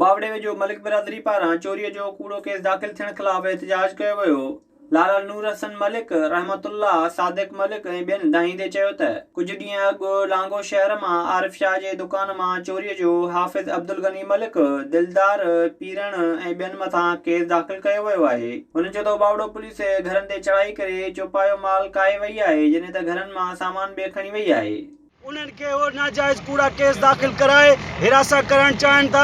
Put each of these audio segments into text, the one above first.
ٻاوڙي ويجهو ملڪ برادري پاران چوري جو ڪوڙو ڪيس داخل ٿيڻ خلاف احتجاج ڪيو ويو، لارا نور حسن ملڪ، رحمت الله، صادق ملڪ ۽ ٻين دانهيندي چيو ته ڪجهه ڏينهن اڳ لانگو شهر مان عارف شاهه جي دڪان مان چوري جو حافظ عبدالغني ملڪ، دلدار، پيرڻ ۽ ٻين مٿان ڪيس داخل ڪيو ويو آهي. هن چيو ته ٻاوڙو پوليس گهرن تي چڙهائي ڪري چوپايو مال ڪاهي وئي آهي جڏهن ته گهرن مان سامان به کڻي وئي آهي. انهن کي اهي ناجائز ڪوڙا ڪيس داخل ڪرائي هراسان ڪرائڻ چاهين ٿا،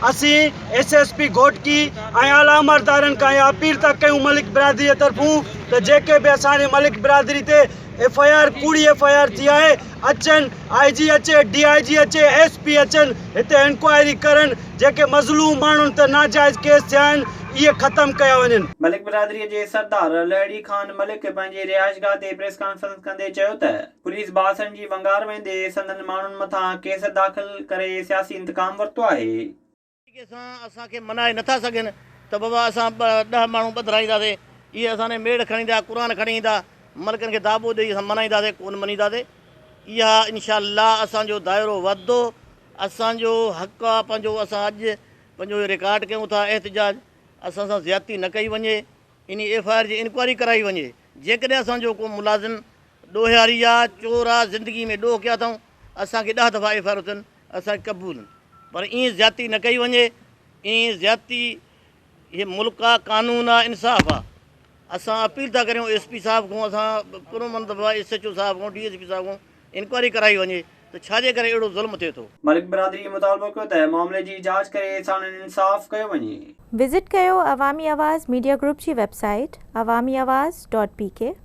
اسين ايس ايس پي گهوٽڪي ۽ اعليٰ عمردارن کان اها اپيل ٿا ڪيون ملڪ برادري طرفون ته جيڪي به اسان جي ملڪ برادري تي ايف آء آر ڪوڙي ايف آء آر ٿي آهي اچن آء جي اچي ڊي آء جي اچي ايس پي اچن هتي انڪوائري ڪرن جيڪي مظلوم ماڻهن تي ناجائز ڪيس ٿيا آهن اهي ختم ڪيا وڃن. ملڪ برادري جي سردار لهڙي خان ملڪ پنهنجي رهائشگاهه تي پريس ڪانفرنس ڪندي چيو ته پوليس باسن جي ونگار ويندي سندن ماڻهن مٿان ڪيس داخل ڪري سياسي انتقام ورتو آهي. طريقي سان اسان کي منائي نٿا سگهن ته بابا اسان ڏهه ماڻهو ٻڌرائينداسين، اهي اسان ڏي ميڙ کڻي ايندا، قرآن کڻي ايندا، ملڪن کي داٻو ڏئي اسان منائينداسين، ڪونه مڃينداسين، اها انشاء الله اسان جو دائرو وڌندو، اسان جو حق آ پنهنجو، اسان اڄ پنهنجو رڪارڊ ڪيون ٿا احتجاج، اسان سان زيادتي نه ڪئي وڃي. انهي ايف آء آر جي انڪوائري ڪرائي وڃي جيڪڏهن اسان جو ڪو ملازم ڏوهياري آ چور آ زندگي ۾ ڏوهه ڪيا اٿائون اسان کي ڏهه دفعا ايف آء آر اٿن اسان کي قبول پر ائين زيادتي نه ڪئي وڃي ائين زيادتي هي ملڪ آ قانون آ انصاف آ اسان اپيل ٿا ڪريون ايس پي صاحب کون اسان پرامن دفعا ايس ايچ او صاحب کون ڊي ايس پي صاحب کون انڪوائري ڪرائي وڃي ته ڇا جي ڪري اهڙو ظلم ٿئي ٿو. ملڪ برادري مطالبو ڪيو ته معاملي جي جاچ ڪري ساڻن انصاف ڪيو وڃي. وزٽ ڪيو عوامي آواز ميڊيا گروپ جي web site Awami Awaz dot P ڪي.